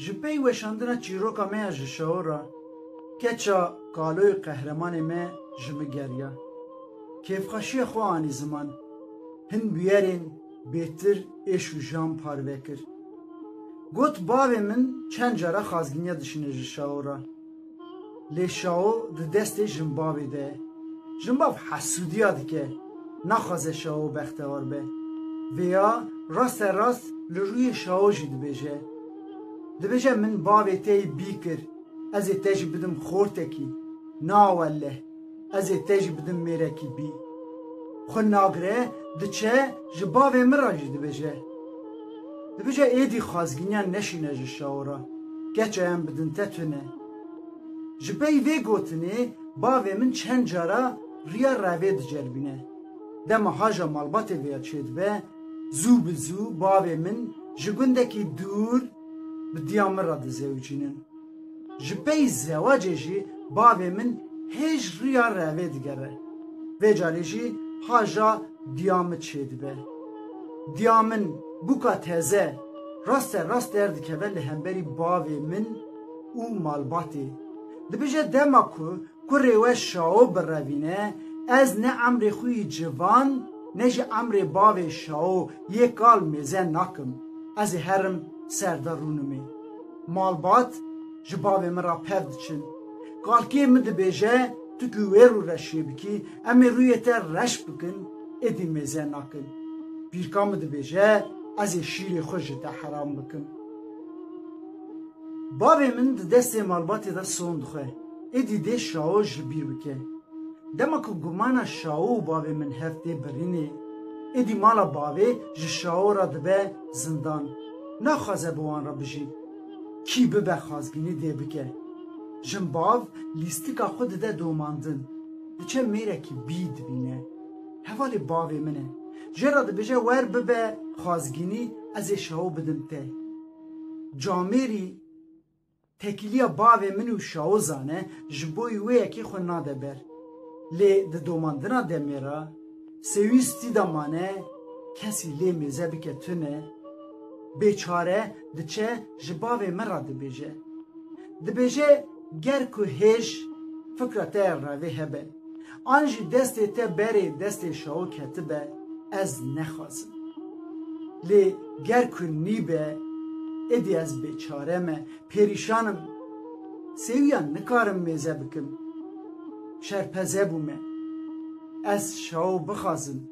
Ji pey weşandina çîroka me ya ji şeho re keça kaloyê qehremanê me ji min geriya. Kêfxweşiya xwe anî ziman. Hin bûyerên bêtir êş û jiyan parve kir. Got bavê min çend cara xazginiya dişine ji şeho re. Lê Şao di destê Jimbavê de ye. Jimbav hesûdiya dike, naxwaze Şao bextewar be. Vêya raste rast li rûyê Şao jî dibêje. Dibêje min bavê te yê bî kir, ez ê te jî bidim xortekî. Na welleh! Ez ê te jî bidim mêrekî bî. Xwe nagire, diçe, ji bavê min re jî dibêje. Dibêje êdî xwazginiyan neşîne ji şawo re, keça yan bidin te tune. Ji pey vê gotinê bavê min çend cara riya revê diceribîne. Dema haja malbatê vê ya çêdibe, zû bi zû bavê min ji gundekî dûr bi diya min re dizewicînin. Ji pey zewacê jî bavê min hêj riya revê digere. Vê carê jî haja diya min çêdibe. Diya min bûka teze raste rast derdikeve li hemberî bavê min û malbatê. Dibije dema ku kurê we Şao birevîne ez ne emrê xwe yî civan ne jî emrê bavê Şao yê kal mêze nakim. Ez ê herim serde rûnimê. Malbat ji bavê min re pev diçin. Kalkê min dibêje tu ku wê rû re şiyê bikî, em ê rûyê te reş bikin, êdî mêze nakin. Pîrka min dibêje ez ê şîrê xwe ji te heram bikim. Bavê min di destê malbatê de son dixwe, êdî dê şawo ji bîr bike. Dema ku gumana şawo û bavê min hev tê birînê, êdî mala bavê ji şawo re dibe zindan. naxwaze bi wan re bijî. Kî bibe xwazbînî dê bike. Jin bav lîstika xwe dide domandin. Diçe mêrekî bî dibîne. Hevalê bavê min e. Jê re dibêje wer bibe xwazgînî ez ê şewo bidim te. Camêrî Tekîliya bavê min û Şawozan e, ji bo wê yekê xwe nade ber. Lê di domandina demê re, sêwîstî de mane kesî lê mêze bike tune, bêçare diçe ji bavê min re dibêje. Dibêje ger ku hêj fikra te revê hebe. An jî destê te berê destê şawo ketibe ez nexwazim. Lê ger ku nîbe êdî ez bêçare me, pêrîşan im. Sêwîyan nikarim mêze bikim. Şerpeze bûme. Ez şawo bixwazim.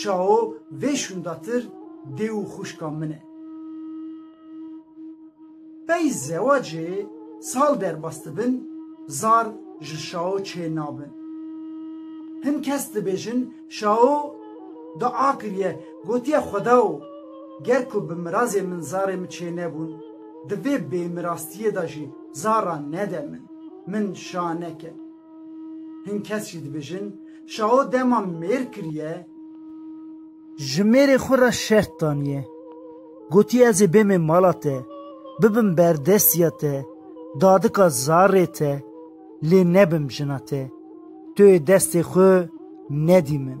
Şao, vê şûndatir dê û xwişka min e. Pey zewacê sal derbas dibin, zar ji Şao çê nabin. Hin kes dibêjin Şao dua kiriye, gotiye Xwedao, ger ku bi mirazê min zarê min çê nebûn, di vê bêmirastiyê de jî zaran nede min, min şa neke. Hin kes jî dibêjin Şaho dema mêr kiriye. Ji mêrê xwe re şert daniye. Gotiye ez ê bêmê mala te, bibim berdestiya te, dadika zarê te, lê nebim jina te. Tu yê destê xwe nedî min.